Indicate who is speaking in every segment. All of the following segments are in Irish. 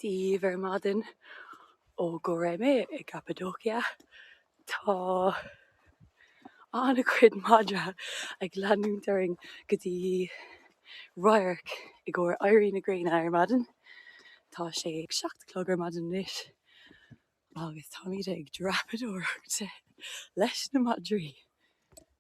Speaker 1: daoibh ar maidin ó Goreme i gCappadocia. Tá an-chuid madra ag leanúint orainn go dtí radharc i gcomhair éirí na gréine ar maidin. Tá sé ag seacht a chlog ar maidin anois agus táimid ag dreapadóireacht leis na madraí.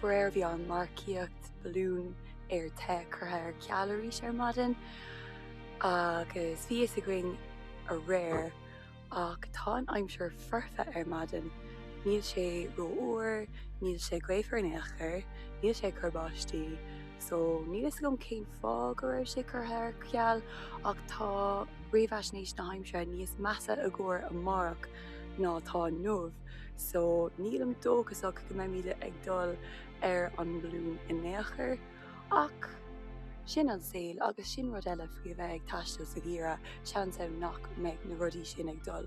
Speaker 1: Faraor bhí an marcaíocht balún aer te curtha ar ceal arís ar maidin agus bhí fhios againn aréir ach tá an aimsir foirfe ar maidin, níl sé ró-fhuar, níl sé gaofar in aon chor, níl sé ag cur báistí. so níl a fhios agam cén fáth go raibh sé curtha ar ceal ach tá réamhaisnéis na haimsire níos measa i gcomhair amárach ná atá inniu so nílim dóchasach go mbeimid ag dul ar an mbalún in aon chor ach sin an saol agus sin rud eile faoi a bheith ag taisteal sa gheimhreadh, seans ann nach mbeidh na rudaí sin ag dul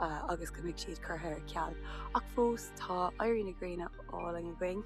Speaker 1: agus go mbeidh siad curtha ar ceal ach fós tá éirí na gréine álainn againn.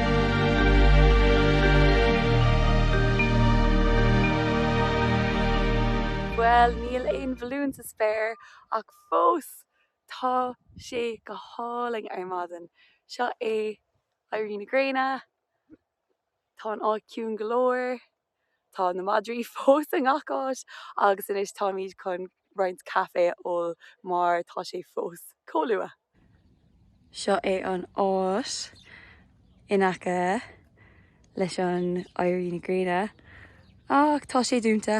Speaker 1: Bhuel, níl aon bhalún sa spéir, ach fós tá sé go hálainn ar maidin. Seo é éirí na gréine, tá an áit ciúin go leor. Tá na madraí fós i ngach áit agus anois táimid chun roinnt caife a ól mar tá sé fós chomh luath! Seo é an áit in aice leis an éirí na gréine ach tá sé dúnta.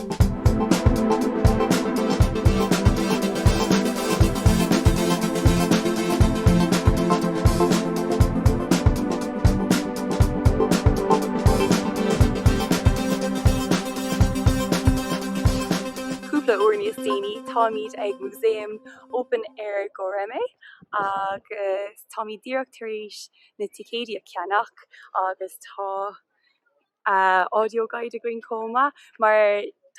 Speaker 1: cúpla uair níos déanaí táimid ag Museum Open Air Goreme agus táimid díreach tar éis na ticéidí a cheannach agus tá audio guide againn chomh maith mar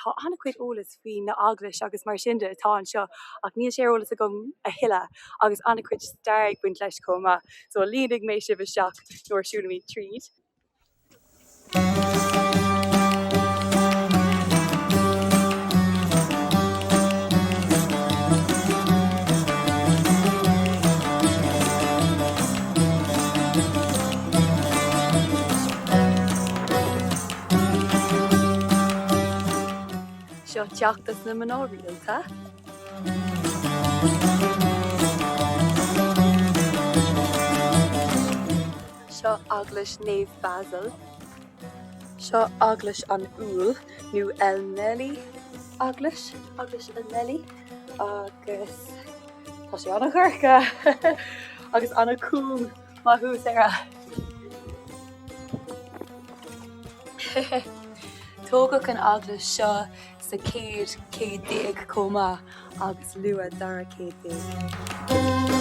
Speaker 1: tá an-chuid eolas faoi na eaglais agus mar sin de atá anseo ach níl sé ar eolas agam a thuilleadh agus an-chuid stair ag baint leis chomh maith so líonfaidh mé sibh isteach nuair a siúlaimid tríd. Seo Teach na Mná Rialta. Seo Eaglais Naomh Basil. Seo Eaglais an Úill nó Elmali Eaglais Eaglais Elmali agus tá sé ana-dhorcha agus ana-chúng Maith thú, Sarah! Tógadh an eaglais seo sa chéad céad déag chomh maith agus luath dara céad déag.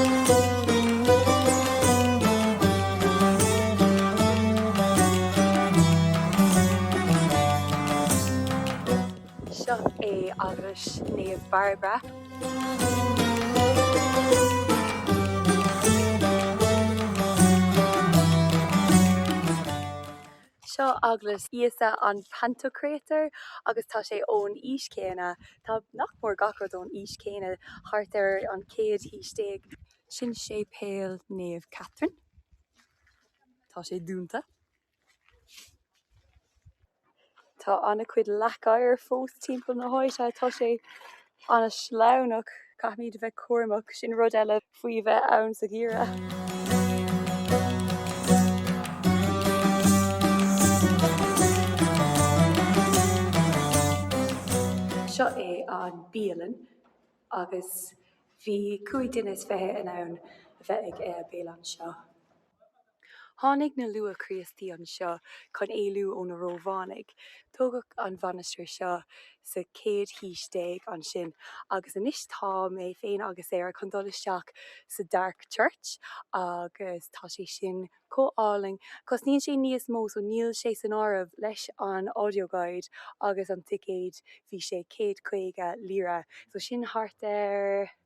Speaker 1: Seo é Eaglais Naomh Bairbre. Seo Eaglais Íosa an Pantocrator agus tá sé ón aois chéanna, tá nach mór gach rud ón aois chéanna, thart ar an chéad haois déag. Sin Séipéal Naomh Catherine. Tá sé dúnta. Tá an-chuid leac oighir fós timpeall na háite. Tá sé an-sleamhnach. Caithfimid a bheith cúramach, sin rud eile faoi bheith ann sa gheimhreadh. Seo é an bialann agus bhí cúig dhuine is fiche in ann a bheith ag an mbéile anseo. Tháinig na luath-Chríostaí anseo chun éalú ó na Rómhánaigh. Tógadh an mhainistir seo sa chéad haois déag ansin agus anois tá mé féin agus Sarah chun dul isteach sa Dark Church agus tá sé sin chomh álainn. Cosnaíonn sé níos mó so níl sé san áireamh leis an audio guide agus an ticéad bhí sé céad caoga lira so sin thart ar.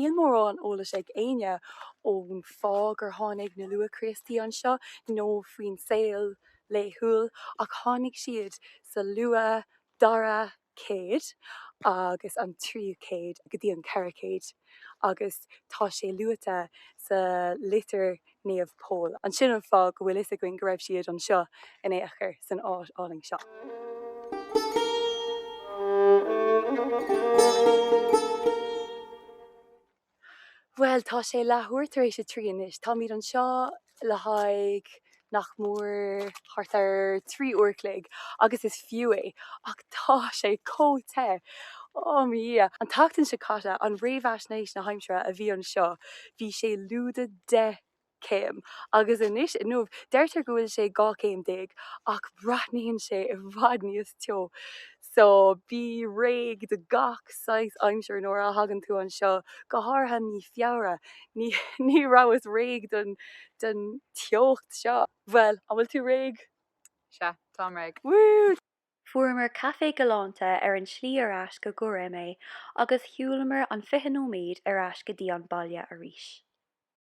Speaker 1: Níl mórán eolais ag éinne faoin fáth gur tháinig na luath-Chríostaí anseo nó faoin saol laethúil ach tháinig siad sa luath, dara, céad agus an tríú céad go dtí an ceathrú céad agus tá sé luaite sa litir Naomh Pól ansin an fáth go bhfuil fhios againn go raibh siad anseo in ao' chor san áit álainn seo. Bhuel, tá sé leathuair tar éis a trí anois. Táimid anseo le haghaidh nach mór thart ar trí uair a chloig agus is fiú é. Ach tá sé chomh te! Oh mo dhia! An tseachtain seo caite, an réamhaisnéis na haimsire a bhí anseo, bhí sé lúide deich céim, agus anois inniu deirtear go bhfuil sé 12 céim, ach breathnaíonn sé i bhfad níos teo. So, bí réidh do gach saghas aimsire nuair a thagann tú anseo, go háirithe mí Feabhra. Ní, ní rabhas réidh don, don teocht seo. Bhuel, an bhfuil tú réidh? Sea, táim réidh. Woo! Fuaireamar caife galánta ar an tslí ar ais go Göreme agus shiúlamar an 20 nóiméad ar ais go dtí an baile arís.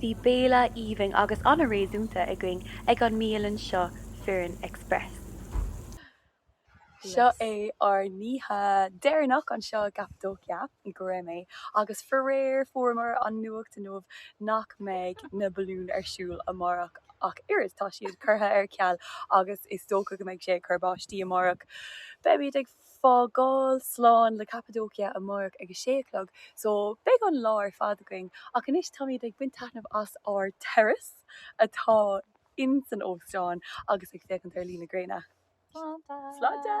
Speaker 1: Bhí béile aoibhinn agus an-réasúnta againn ag an mbialann seo Firin Express. Seo é ár n-oíche deireanach anseo i gCappadocia, i nGöreme, agus faraor fuaireamar an nuacht inniu nach mbeidh na balúin ar siúl amárach ach oiread. Tá siad curtha ar ceal agus is dócha go mbeidh sé ag cur báistí amárach. Beimid ag. fágáil slán le Cappadocia amárach ag a sé a chlog so beidh an lá ar fad againn ach anois táimid ag baint taitneamh as ár terrace atá in san óstán agus ag féachaint ar luí na gréine. Sláinte!